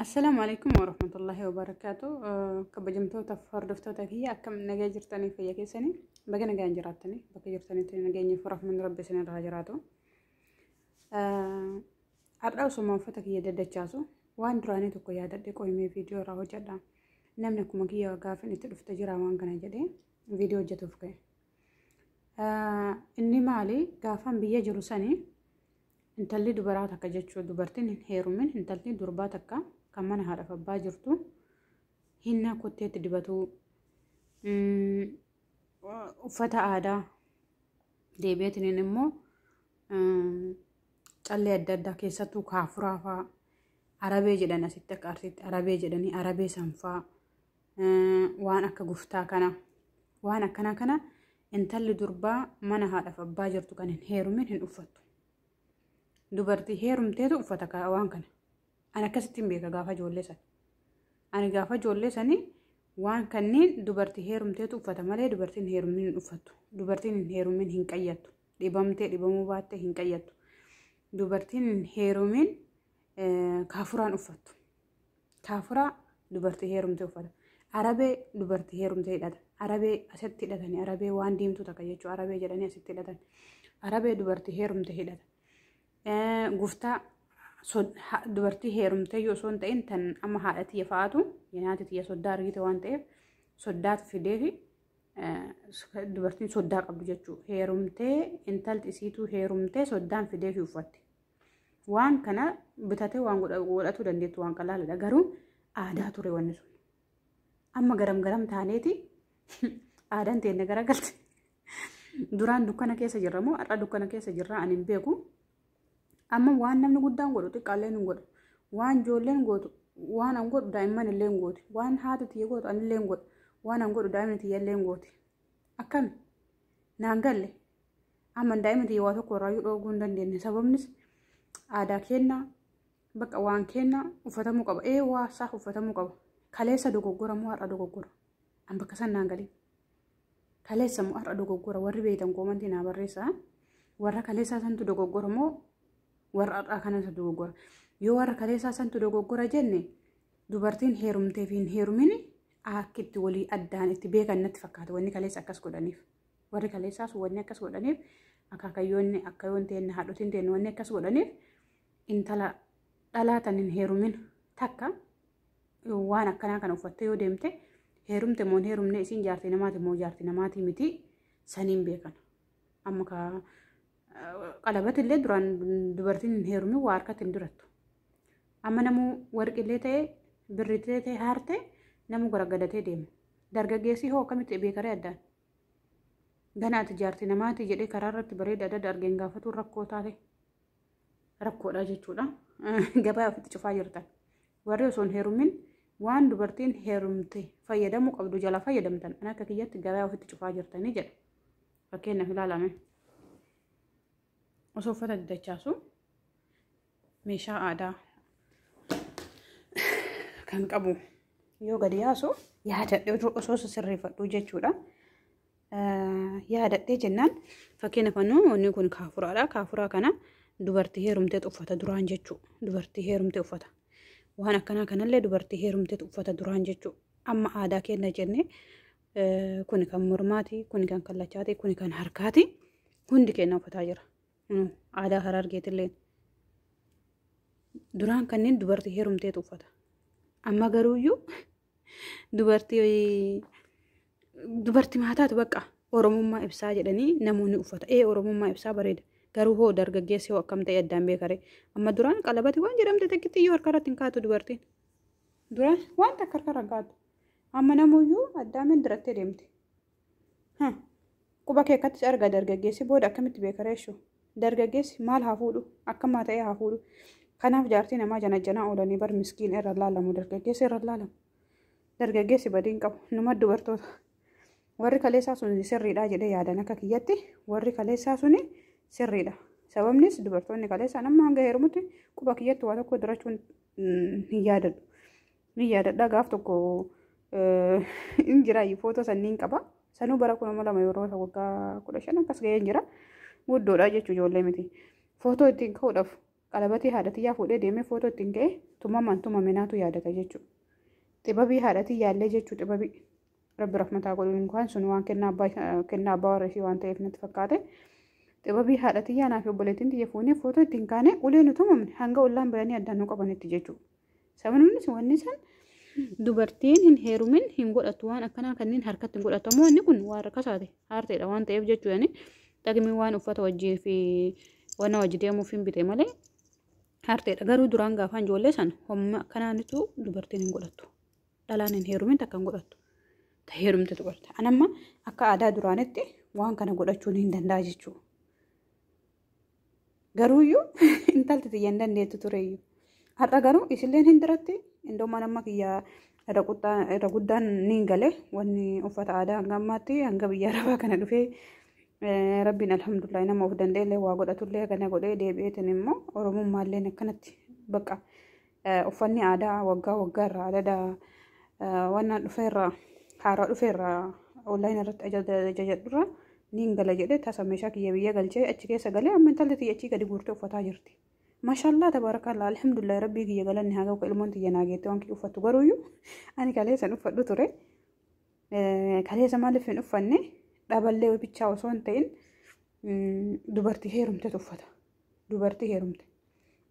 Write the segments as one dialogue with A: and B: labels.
A: Assalaamu alaikum warahmatullahi wabarakaatu. Kabajamtoota hordoftoota kiyya akkam nagaa jirtanii fayya keessanii baga nagaan jiraattanii bakka jirtanitti nageenyi fi rahmanni rabbi isin irraa jiraatu. Har'a osuma uffata kiyya daddachaasu waan duraanii tokko yaadadhe qoyimee viidiyoo irraa hojjedha. Namni akkuma kiyya gaafin itti dhufte jira waan kana jedhee viidiyoo hojjetuuf ka'e. Inni maali gaafan biyya jiru sanii Intalli dubaraa takka jechuun dubartiin hin heerumin intalli durbaa takka kan mana haadhaaf abbaa jirtu hinnaa kotteetti dibatuu mm, uffata aadaa deebi'eetiin immoo mm, callee adda addaa keessattuu kaafuraa fa'aa arabee jedhan asitti akka arsiitti arabee jedhanii arabee sanfaa waan akka guftaa kana waan akkanaa kana intalli durbaa mana haadhaaf abbaa jirtu kan hin heerumin hin uffattu. Dubartii heerumteetu uffata kaa- waan kana. Ani akkasitti hin beeka gaafa ijoollee sana. Ani gaafa ijoollee sanii waan kanneen dubartii heerumteetu uffata malee dubartiin heerumin hin uffattu. Dubartiin hin heerumin hin qayyattu. Dhibamtee dhibamuu baattee hin qayyattu. Dubartiin hin heerumin Kaafuraan uffattu. Kaafuraa dubartii heerumtee uffata. Arabee dubartii heerumtee hidhata. Arabee asitti hidhatanii arabee waan diimtuu takka jechuudha. Arabee jedhanii asitti hidhatan. Arabee dubartii heerumtee hidhata. Guftaa dubartii heerumtee yoo osoo hin ta'in tan amma haadha tiyya fa'aatu nyaati tiyya soddaa argite waan ta'eef soddaatu fidee fi dubartiin soddaa qabdu jechuudha. Heerumtee intalti isiituu heerumtee soddaan fidee fi uffatti. Waan kana bitatee waan godhatuu dandeettu waan qalaaladha. Garuu aadaa ture wanni sun. Amma garam garam taaneeti aadaan teenya garagalte. Duraan dukkana keessa jirra moo har'a dukkana keessa jirra ani hin beeku. Amma waan namni guddaan godhu xiqqaalleen hin godhu. Waan ijoolleen gootu waan an godhu daa'imman illee hin gooti. Waan haati tiyya gootu anillee hin godhu. Waan an godhu daa'imni tiyya illee hin gooti. Akkami? Naan galle. Amma daa'ima tiyya waa tokko irraa dhooguu hin dandeenye sababnis aadaa keenya bakka waan keenya uffatamuu qaba ee waa isaa uffatamuu qaba kaleessa dogoggora moo har'a dogoggora an bakka san naan galii kaleessa moo har'a dogoggora warri beektan koomantii naa barreessaa warra kaleessaa santu dogoggora moo warra har'aa kanatu dogoggora yoo warra kaleessaa santu dogoggora jenne dubartiin heerumtee fi hin heerumin akka itti walii addaan itti beekan natti fakkaata wanni kaleessa akkas godhaniif. Warri kaleessaas wanni akkas godhaniif akaakayyoonni akkayoon teenna haadhotiin teenna wanni akkas godhaniif intala dhalaa tan hin heerumin takka waan akkanaa kana uffattee yoo deemte heerumte moo hin heerumne isiin jaartii namaati moo jaartii namaati miti saniin beekan. Amma ka qalabati illee duraan dubartiin hin heerumin waa harkatti hin dirattu. Amma namuu warqillee ta'e birritee ta'e haarte namuu garagadatee deema. Dargaggeessi hoo akkamitti beekaree addaan? Ganaati jaarti namaati jedhee karaa irratti bareeda adda argeen gaafatuun rakkoo taate rakkoodha jechuudha. Gabaa ofitti cufaa jirtan. Warri osoo hin heerumin waan dubartiin heerumte fayyadamuu qabdu jalaa fayyadamtan an akka kiyyatti gabaa ofitti cufaa jirtanii jedha. Fakkeenyaaf ilaalame. Osoo uffata didachaasu meeshaa aadaa kan qabu yoo gadi yaasu yaadadhee osoo sirreeffadhu jechuudha. Yaadadhee jennaan fakkeenya fannoo wanni kun kaafuraadha. Kaafuraa kana dubartii heerumtee uffata duraan jechuu dubartii heerumtee uffata. Waan akkanaa kanallee dubartii heerumtee uffata duraan jechuu amma aadaa keenya jennee kuni kan mormaati, kuni kan kallachaati, kuni kan harkaati hundi keenya uffataa jira. Aadaa Harargeetillee duraan kanneen dubartii heerumteetu uffata. Amma garuuyyuu dubartii dubartii maataatu bakka Oromummaa ibsaa jedhanii namoonni uffata. Ee Oromummaa ibsaa bareeda. Garuu hoo dargaggeessi hoo akkam ta'e addaan beekare. Amma duraan qalabati waan jedhamte takkitti iyyuu harka irratti hin kaatu dubartiin. Duraan waan takka harka irra hin kaatu. Amma namuyyuu addaamiin dirattee deemti. Huh. Quba kee akkatti arga dargaggeessi booda akkamitti beeka reeshu? Dargaggeessi maal haa fuudhu? Akkamaa ta'ee haa fuudhu? Kanaaf jaartii namaa janajjanaa oolanii bar miskiin irra laalamu dargaggeessi irra laalamu. Dargaggeessi badiin qabu numa dubartoota. Warri kaleessaa sun sirriidha jedhee yaadan akka kiyyatti warri kaleessaa sun sirriidha. Sababnis dubartoonni kaleessaan amma hanga heerumutti quba kiyyatti waa tokko durachuun hin yaadadhu. Ni yaadadha gaaf tokko hin jira footoo sanniin qaba. Sanuu bara kuma lama yeroo ta'u waggaa kudha shan akkas ga'ee hin jira. Guddoodha jechuu ijoollee miti. Footoo ittiin ka'uudhaaf qalabatii haadhatiyyaa fuudhee deemee footoo ittiin ka'e tumamaan tumame naatu yaadata jechuudha. Xibabii haadhatiyyaa illee jechuu xibabii. Rabbi rahmataa godhuun inkaan sun waan kennaa abbaa warra ishii waan ta'eef natti fakkaate. Xibabii haadhatiyyaa naaf obboleettiin tiyya fuunee footoo ittiin kaane ulee nu tumamne hanga ollaan biranii addaan nu qabanitti jechuudha. Sababiinis wanni san dubartiin hin heerumin hin godhatu waan akkanaa kanneen harkatti hin godhatamu inni kun waan rakkasaati haarteedha waan ta'eef jechuudhaani dhaqni waan uffata wajjii fi wanna wajji deemuuf hin bite malee haarteedha garuu duraan gaafaan ijoollee san homma akkanaanitu dubartiin hin godhatu dhalaan hin heerumin takka hin godhatu ta heerumte dubarta anamma akka aadaa duraanitti waan kana godhachuun hin danda'a jechuudha. Garuuyyuu intalti tiyya hin dandeettu tureyyuu. Har'a garuu isilleen hin diratti indoo mana amma kiyya irra quttaa- irra guddaan niin gale wanni uffata aadaa hanga ammaatti hanga biyya arabaa kana dhufee eh, rabbiin alhamdulillah nama of danda'ellee waa godhatullee kana godhee deebi'eetiin immoo oromummaalleen akkanatti baqa Uffanni aadaa waggaa waggaa irraa adada wannaan dhufe irraa haaraa dhufe irraa online irratti ajajadhu irraa niin gala jedhee tasa meeshaa kiyya biyya galchee achi keessa galee amma intalli tiyya achii gadi guurtee uffataa jirti. Mashallah tabarakallah alhamdulillah rabbii kiyya galanni haa ga'u ilmoon tiyya naa geettee waan kiyya uffattu garuuyyu ani kalee san uffadhu ture. Kalee san maaliif hin uffanne dhaballee bichaa osoo hin ta'in dubartii heerumtetu uffata. dubartii heerumte.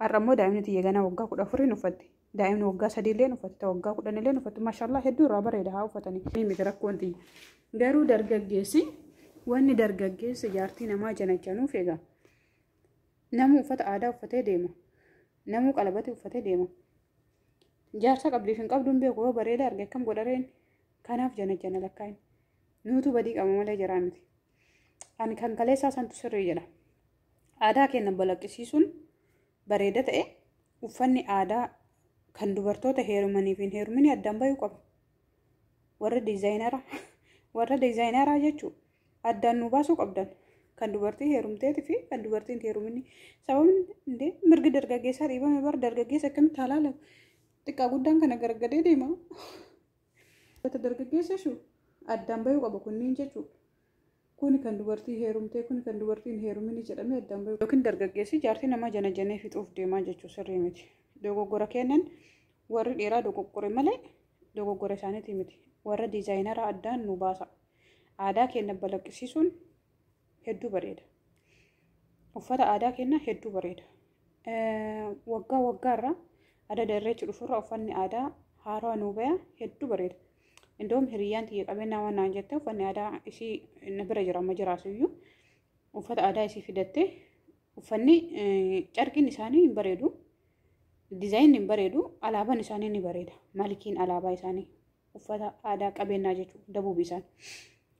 A: Har'a immoo daa'imni tiyya ganaa waggaa kudha afuriin uffatti. Daa'imni waggaa sadii illee uffatti. Ta waggaa kudhan illee uffatti. Maashaallah hedduu irraa bareeda haa uffatanii. Ni miti rakkoon tiyya. Garuu dargaggeessi wanni dargaggeessi jaartii namaa janajanuuf egaa namuu uffata aadaa uffatee deema. Namuu qalabatii uffatee deema. Jaarsa qabdiif hin qabdu hin beeku yoo bareeda arge akkam godhareen kanaaf janajana lakkaa'in. Nuutu badii qaba malee jaraa miti. Ani kan kaleessaa santu sirrii jedha. Aadaa keenya balaqqisiisuun bareeda ta'e uffanni aadaa kan dubartoota heerumanii fi hin heeruminii addaan bahuu qaba. Warra diizaayineraa warra diizaayineraa jechuun addaan nu baasuu qabdan. Kan dubartii heerumteetii fi kan dubartii hin heeruminii. Sababni indee mirgi dargaggeessaa dhiibame bara dargaggeessa akkamitti halaalamu? Xiqqaa guddaan kana gargadee deema. Wanta dargaggeessa jechuun addaan bahuu qaba kunniin jechuudha. Kuni kan dubartii heerumtee kuni kan dubartii hin heerumini jedhamee addaan bahuu. Yookiin dargaggeessi jaartii namaa janajanee fixuuf deemaa jechuu sirrii miti. Dogoggora keennan warri dhiiraa dogoggore malee dogoggora isaaniitii miti. Warra diizaayinaraa addaan nu baasa. Aadaa keenna balaqqisiisuun hedduu bareeda. Uffata aadaa keenya hedduu bareeda. Waggaa waggaarraa adada irreechi dhufurra uffanni aadaa haarawaa nuu baya hedduu bareeda. Indoom hiriyyaan tiyya qabeenyaa waan naan jette uffanni aadaa isii na bira jira amma jiraasuyyuu uffata aadaa isii fidattee uffanni carqiin isaanii hin bareedu. Dizaayin hin bareedu alaabaan isaanii ni bareeda. Malikiin alaabaa isaanii uffata aadaa qabeenyaa jechuudha dabuubi isaan.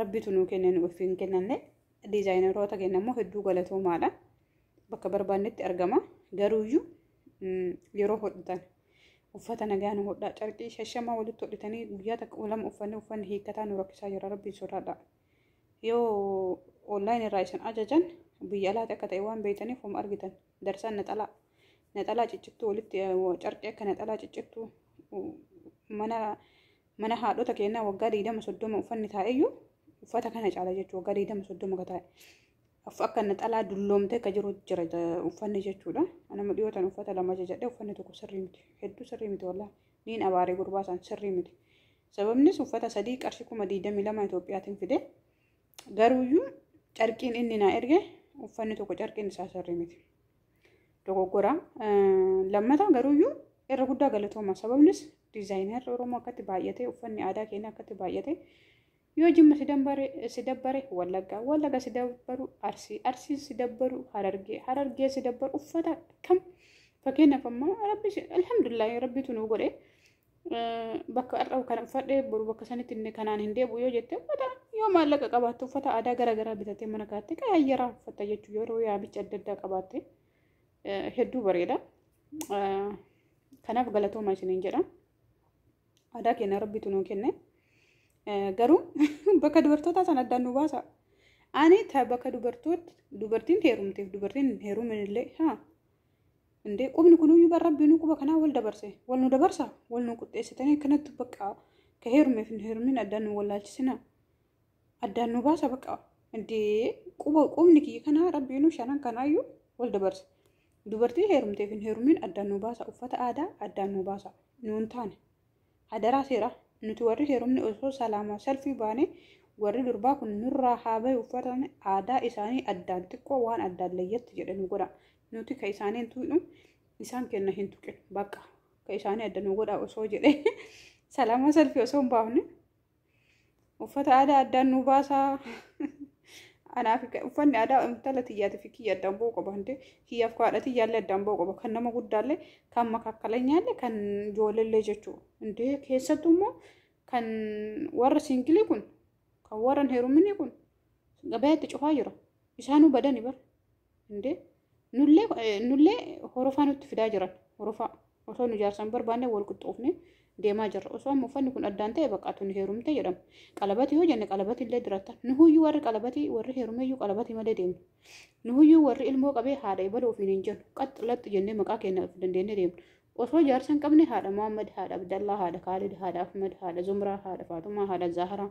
A: Rabbitu nuu kenne nu ofii hin kennanne. Diizaayineroota keenya immoo hedduu galatoomaadha. Bakka barbaannetti argama. Garuuyyuu yeroo hodhitan uffata nagaa nu hodhaa carqii shashamaa walitti hodhitanii guyyaa takka lama uffanni uffanni hiikkataa nu rakkisaa jira rabbiin sodaadha. Yoo online irraa isin ajajan biyya alaati akka ta'e waan beektaniif homa argitan darsaan naxalaa naxalaa ciccittuu walitti carqii akka naxalaa ciccittuu mana Mana haadhota keennaa waggaa digdama soddoma uffanni taa'eyyuu uffata kana caala jechuudha. Waggaa digdama soddoma ka taa'e. Akka naxalaa dulloomtee ka jiru jira uffanni jechuudha. Anama dhiyootan uffata lama jajadhe uffanni tokko sirrii miti. Hedduu sirrii miti wallaahi. Niin abaare gurbaa isaan sirrii miti. Sababnis uffata sadii qarshii kuma digdamii lama Itoophiyaatiin fide. Garuuyyuu carqiin inni naa erge uffanni tokko carqiin isaa sirrii miti. Dogoggora. Lammataa garuuyyuu irra guddaa galatooma. Sababnis diizaayinarri Oromoo akkatti baay'atee uffanni aadaa keenya akkatti baay'atee yoo jimma si dabbare wallaggaa wallagga si dabbaru arsii arsii si dabbaru harargee harargee si dabbaru uffata kam fakkeenyaaf ammaa rabbi alhamdulillahi rabbitu nu godhe bakka har'a kana uffadhe boru bakka sanitti inni kanaan hin deebi'u yoo jette uffata yoo maallaqa qabaatte uffata aadaa gara garaa bitatee mana kaatte qaayyaraa uffata jechuu yeroo yaamicha adda addaa qabaatte hedduu bareeda. Kanaaf galatooma isiniin jedha. Aadaa keenya rabbitu nuu kenne. Garuu bakka dubartootaa sana addaan nu baasa. Ani ta bakka dubartoota dubartiin heerumteef dubartiin hin heerumin illee haa Indee qubni kunuyyuu bar rabbiinuu quba kanaa wal dabarse wal nu dabarsa wal nu quxxeessitanii akkanatti baqqaa ka heerumeef hin heerumin addaan nu wallaalchisina addaan nu baasa baqqaa indee quba qubni kiyya kanaa rabbiinuu shanan kanaayyuu wal dabarse dubartii heerumteef hin heerumin addaan nu baasa uffata aadaa addaan nu baasa nuun taane Hadaraa seeraa nuti warri heerumne osoo salaamaa salfii baane warri durbaa kun nurraa haa bahe uffatan aadaa isaanii addaan xiqqoo waan addaan layyatti jedhe nu godha nuti ka isaanii hin tuqnu isaan kenna hin tuqin bakka ka isaanii adda nu godha osoo jedhe salaamaa salfii osoo hin baafne Uffata aadaa addaan nu baasaa. Anaaf uffanni aadaa intala tiyyaati fi kiyya addaan ba'uu qaba hante kiyyaaf kaadha tiyyaallee addaan ba'uu qaba kan nama guddaallee kan makakkaleenyaallee kan ijoolleellee jechuudha. Intee keessattuu immoo kan warra siingilii kun kan warra hin heeruminii kun gabaatti cufaa jira. Isaanuu badani bara. Indee nullee eh, nullee horofaa nutti fidaa jiran horofaa osoo nu jaarsan barbaanne wal qixxoofne deemaa jirra osoo amma uffanni kun addaan ta'e bakka tuni heerumte jedhamu qalabati yoo jenne qalabati illee diratta nuhuyyuu warri qalabati warri heerumeyyuu qalabati malee deemna nuhuyyuu warri ilmoo qabee haadha ibala ofiin hin jennu qaxx laxxi jennee maqaa keenya of dandeenye deemna osoo jaarsa hin qabne haadha Muhammad haadha Abdallaa haadha Kaalid haadha Ahmad haadha Zumraa haadha Faatumaa haadha Zaaharaa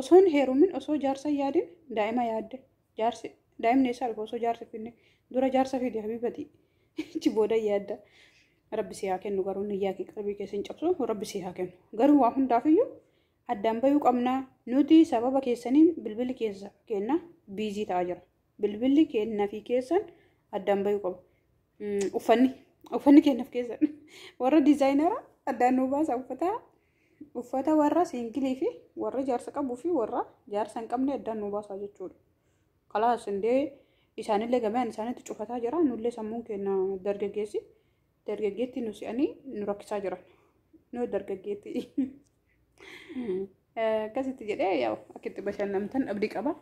A: Osoo hin heerumin osoo jaarsa hin yaadin daa'ima yaadde. Jaarsi daa'imni eessaa dhufa osoo jaarsi finne. Dura jaarsa fidi habibatii. Achi booda yaadda. Rabbi si haa kennu garuu niyyaa kee qalbii kee sin cabsu rabbi si haa kennu. Garuu waa hundaafiyyuu addaan bayuu qabna. Nuti sababa keessaniin bilbilli keessa keenna biizii ta'aa jira. Bilbilli keenna fi keessan addaan bayuu qaba. Uffanni uffanni keenna fi keessan warra diizaayinara addaan nuu baasa uffataa Uffata warra siingilii fi warra jaarsa qabuu fi warra jaarsa hin qabne addaan nu baasaa jechuudha. Kalaas indee isaanillee gamayaan isaanitti cufataa jira. Nullee sammuun keenya dargaggeessi dargaggeetti nu si'anii nu rakkisaa jiran. Nu dargaggeetti. Akkasitti jedhee yaa'u akka itti bashannantan abdii qaba.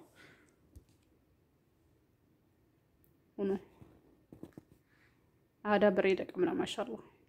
A: Aadaa bareeda qabna maashaallah.